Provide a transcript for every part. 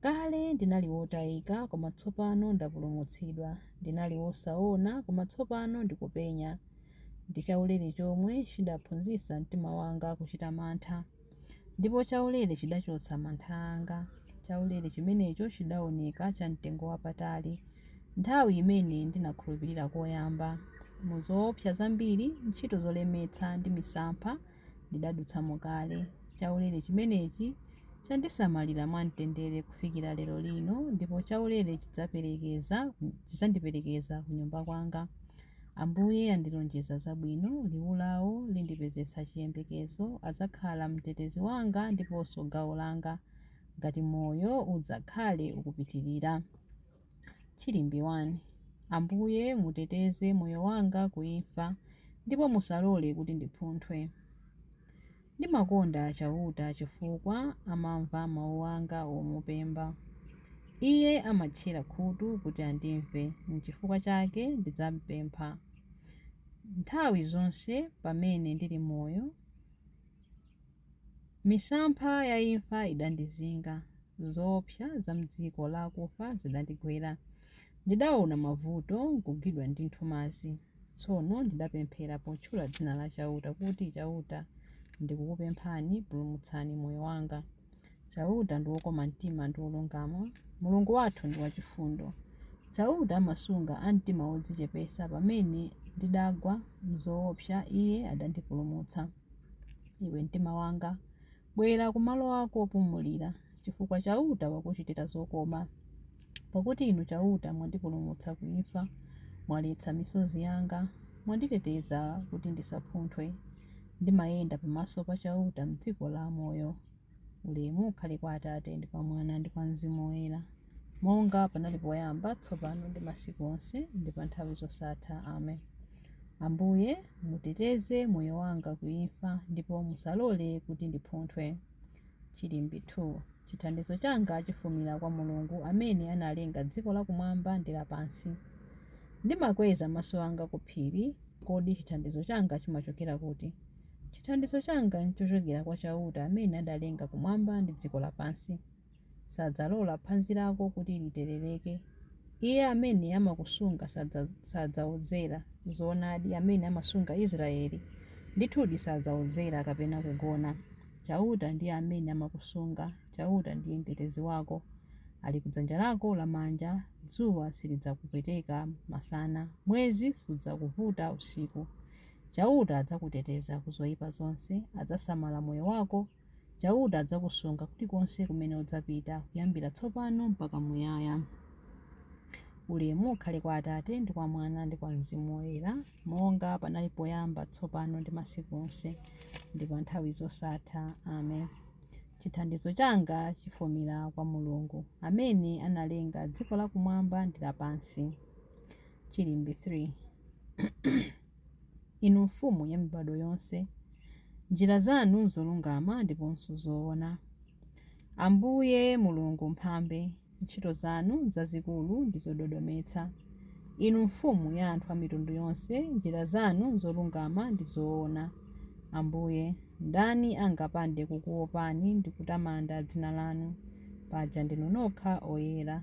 Kale ndinali wotayika, koma tsopano ndapulumutsidwa, ndinali wosaona, koma tsopano ndikupenya. Ndi chaulere chomwe chidaphunzitsa mtima wanga kuchita mantha, ndipo chaulere chidachotsa mantha anga. Chaulere chimenecho chidaoneka cha mtengo wapatali nthawi imene ndinakhulupirira koyamba. Mu zoopsa zambiri, ntchito zolemetsa, ndi misampha, ndidadutsamo kale. Chaulere chimenechi chandisamalira mwamtendere kufikira lero lino ndipo chaulere chidzaperekeza, chidzandiperekeza kunyumba kwanga. Ambuye andilonjeza zabwino, liwu lawo lindipezetsa chiyembekezo, adzakhala mtetezi wanga ndiponso gawo langa ngati moyo udzakhale ukupitirira. Chilimbi 1. Ambuye, muteteze moyo wanga ku imfa, ndipo musalole kuti ndiphunthwe. Ndimakonda Chauta chifukwa amamva mau anga omupempha. Iye amatchera khutu kuti andimve, nchifukwa chake ndidzampempha. Nthawi zonse pamene ndili moyo. Misampha ya imfa idandizinga, zoopsa za m'dziko la akufa zidandigwera. Ndidaona mavuto, nkugwidwa ndi nthumazi. Tsono ndidapemphera potchula dzina la Chauta kuti, Chauta, ndikukupemphani, pulumutsani moyo wanga. Chauta ndi wokoma mtima ndi wolungama, Mulungu wathu ndi wachifundo. Chauta amasunga a mtima wodzichepetsa, pamene ndidagwa m'zoopsa, Iye adandipulumutsa. Iwe mtima wanga, bwera kumalo ako opumulira, chifukwa Chauta wakuchitira zokoma. Pakuti Inu Chauta mwandipulumutsa ku imfa, mwaletsa misozi yanga, mwanditeteza kuti ndisaphunthwe. Ndimayenda pamaso pa Chauta m'dziko la amoyo. Ulemu ukhale kwa Atate, ndi kwa Mwana, ndi kwa Mzimu Woyera, monga panali poyamba, tsopano, ndi masiku onse, ndi pa nthawi zosatha. Amen. Ambuye, muteteze moyo wanga ku imfa, ndipo musalole kuti ndiphunthwe. Chilimbi 2. Chithandizo changa chifumira kwa Mulungu amene analenga dziko lakumwamba ndi lapansi. Ndimakweza maso anga ku phiri, kodi chithandizo changa chimachokera kuti? Chithandizo changa nchochokera kwa Chauta amene adalenga kumwamba ndi dziko lapansi. Sadzalola phazi lako kuti literereke. Iye amene amakusunga sadzaodzera. Zoonadi, amene amasunga Israele, ndithudi sadzaodzera kapena kugona. Chauta ndiye amene amakusunga, Chauta ndiye Mtetezi wako. Ali ku dzanja lako lamanja, dzuwa silidzakupweteka masana, mwezi sudzakuvuta usiku. Chauta adzakuteteza ku zoipa zonse, adzasamala moyo wako, Chauta adzakusunga kulikonse kumene udzapita, kuyambira tsopano mpaka muyaya. Ulemu ukhale kwa Atate, ndi kwa Mwana, ndi kwa Mzimu Woyera, monga panali poyamba, tsopano ndi masiku onse, ndi pa nthawi zosatha. Amen. Chithandizo changa chifumira kwa Mulungu, amene analenga dziko lakumwamba ndi lapansi. Chilimbi 3 Inu Mfumu ya mibadwo yonse, njira zanu nzolungama ndiponso zoona. Ambuye Mulungu Mphambe, ntchito zanu nzazikulu ndi zododometsa. Inu Mfumu ya anthu a mitundu yonse, njira zanu nzolungama ndi zoona. Ambuye, ndani angapande kukuwopani ndi kutamanda dzina lanu? Paja ndinu nokha oyera.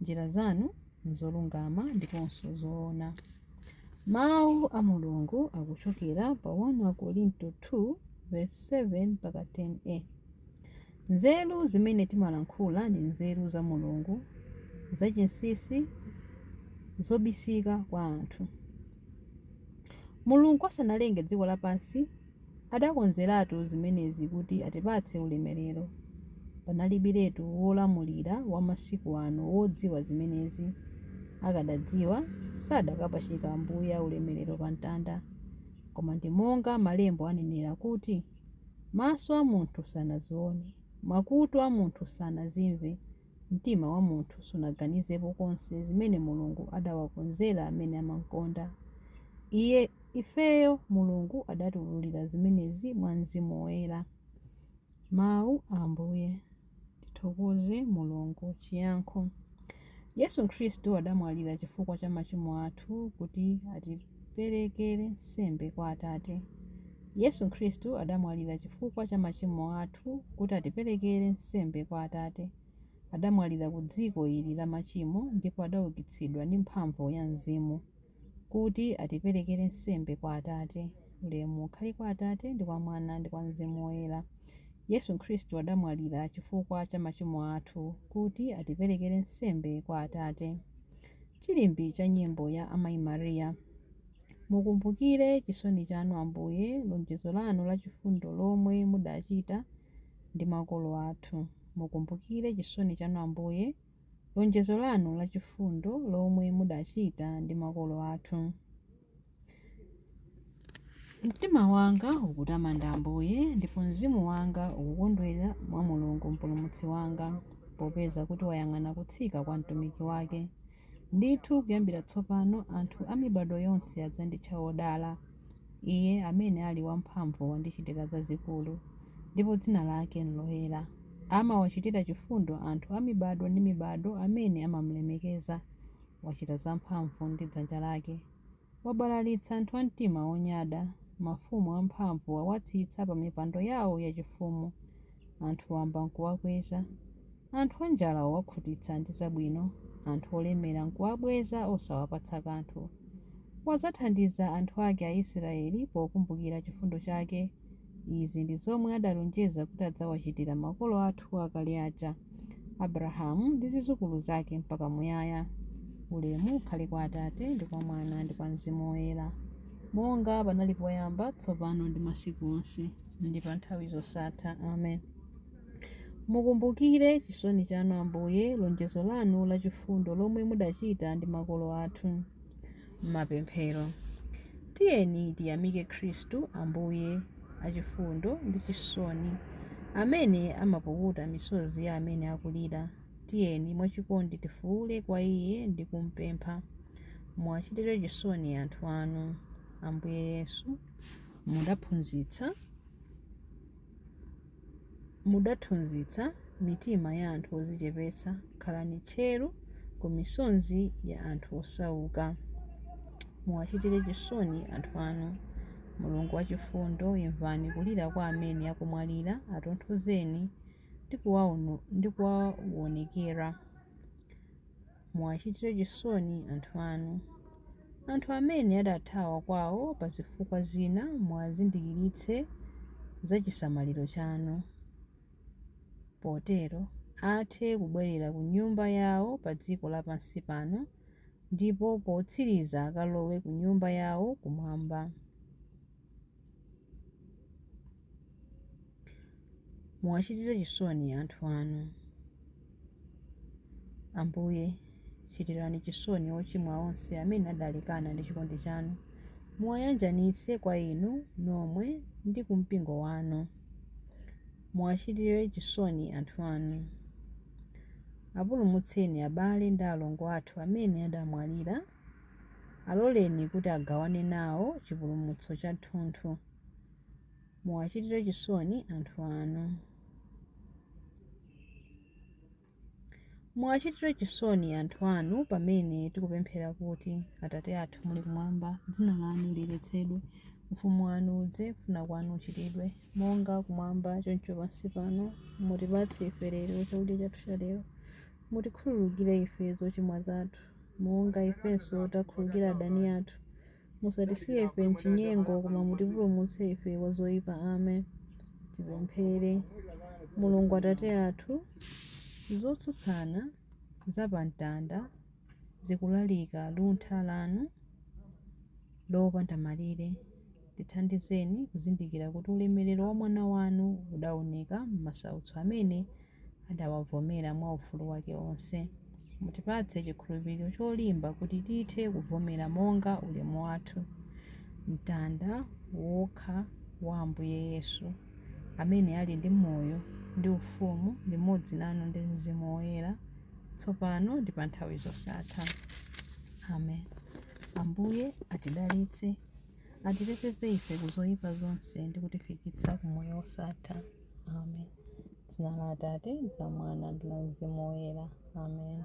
Njira zanu nzolungama ndiponso zoona. Mawu a Mulungu akuchokera pa 1 Akorinto 2:7 mpaka 10 a Nzeru zimene timalankhula ndi nzeru za Mulungu, zachinsinsi, zobisika kwa anthu. Mulungu asanalenge dziko lapansi, Adakonzeratu zimenezi kuti atipatse ulemerero. Panalibiretu wolamulira wa masiku ano wodziwa zimenezi. Akadadziwa, sadakapachika Ambuye aulemerero pa mtanda. Koma ndi monga Malembo anenera kuti, Maso a munthu sanaziwone, makutu a munthu sanazimve, Mtima wa munthu sunaganizepo konse zimene Mulungu adawakonzera amene amamkonda Iye. Ifeyo Mulungu adatiwululira zimenezi mwa Mzimu Woyera. Mau a Ambuye. Tithokoze Mulungu. Chiyankho. Yesu Khristu adamwalira chifukwa cha machimo athu kuti ati. tiperekere nsembe kwa Atate. Yesu Khristu adamwalira chifukwa cha machimo athu kuti atiperekere nsembe kwa Atate. Adamwalira ku dziko ili la machimo ndipo adaukitsidwa ndi mphamvu ya Mzimu kuti atiperekere nsembe kwa Atate. Ulemu ukhale kwa Atate ndi kwa Mwana ndi kwa Mzimu Woyera. Yesu Khristu adamwalira chifukwa cha machimo athu kuti atiperekere nsembe kwa Atate. Chilimbi cha nyimbo ya Amayi Maria. Mukumbukire chisoni chanu, Ambuye, lonjezo lanu la chifundo lomwe mudachita ndi makolo athu. Mukumbukire chisoni chanu, Ambuye, lonjezo lanu la chifundo lomwe mudachita ndi makolo athu. Mtima wanga ukutamanda Ambuye, ndipo mzimu wanga ukukondwera mwa Mulungu Mpulumutsi wanga, popeza kuti wayang'ana kutsika kwa mtumiki wake. Ndithu kuyambira tsopano anthu a mibadwo yonse adzanditcha wodala. Iye amene ali wamphamvu wandichitira zazikulu, ndipo dzina lake n'loyera. Amawachitira chifundo anthu a mibadwo ndi mibadwo amene amamulemekeza. Wachita zamphamvu ndi dzanja lake. Wabalalitsa anthu a mtima wonyada, mafumu amphamvu wawatsitsa pamipando yao yachifumu. Anthu wamba nkuwakweza, anthu anjala wawakhutitsa ndi zabwino, anthu olemera nkuwabweza osawapatsa kanthu. Wadzathandiza anthu ake Aisraele pokumbukira chifundo chake Izi ndi zomwe adalonjeza kuti adzawachitira makolo athu akale aja, Abrahamu ndi zidzukulu zake mpaka muyaya. Ulemu ukhale kwa Atate, ndi kwa Mwana, ndi kwa Mzimu Woyera, monga panali poyamba, tsopano ndi masiku onse, ndi pa nthawi zosatha. Amen. Mukumbukire chisoni chanu, Ambuye, lonjezo lanu lachifundo lomwe mudachita ndi makolo athu. Mapemphero. Tiyeni tiyamike Khristu Ambuye achifundo ndi chisoni, amene amapukuta misozi ya amene akulira. Tiyeni mwachikondi tifuule kwa Iye ndi kumpempha, Muwachitire chisoni anthu anu, Ambuye Yesu, mudathunzitsa. Mudathunzitsa mitima ya anthu odzichepetsa, khalani tcheru ku misonzi ya anthu osauka. Muwachitire chisoni anthu anu, Mulungu wachifundo, imvani kulira kwa amene akumwalira, atonthozeni ndi kuwaonekera. Muwachitire chisoni anthu anu. Anthu amene adathawa kwawo pa zifukwa zina muwazindikiritse za chisamaliro chanu, potero athe kubwerera ku nyumba yawo pa dziko lapansi pano ndipo potsiriza akalowe ku nyumba yawo kumwamba. Muwachitire chisoni anthu anu. Ambuye, chitirani chisoni ochimwa onse amene adalekana ndi chikondi chanu, muwayanjanitse kwa Inu nomwe ndi ku mpingo wanu. Muwachitire chisoni anthu anu. Apulumutseni abale ndi alongo athu amene adamwalira. Aloleni kuti agawane nawo chipulumutso chathunthu. Muwachitire chisoni anthu anu. Muwachitire chisoni anthu anu pamene tikupemphera kuti, Atate athu muli kumwamba, dzina lanu liyeretsedwe. Ufumu wanu udze. Kufuna kwanu kuchitidwe, monga kumwamba choncho pansi pano. Mutipatse ife lero chakudya chathu chalero. Mutikhululukire ife zochimwa zathu, monga ifenso takhululukira adani athu. Musatisiye ife m'chinyengo, koma mutipulumutse ife kwa zoipa. Amen. Tipemphere. Mulungu Atate athu, zotsutsana za pa mtanda zikulalika luntha lanu lopanda malire. Tithandizeni kuzindikira kuti ulemerero wa Mwana wanu udaoneka m'masautso amene adawavomera mwa ufulu wake onse. Mutipatse chikhulupiriro cholimba kuti tithe kuvomera monga ulemu wathu mtanda wokha wa Ambuye Yesu, amene ali ndi moyo ndi ufumu limodzi nanu ndi Mzimu Woyera, tsopano ndi pa nthawi zosatha. Amen. Ambuye atidalitse, atiteteze ife ku zoyipa zonse ndi kutifikitsa ku moyo wosatha. amen dzina la atate la mwana ndi la mzimu woyera amen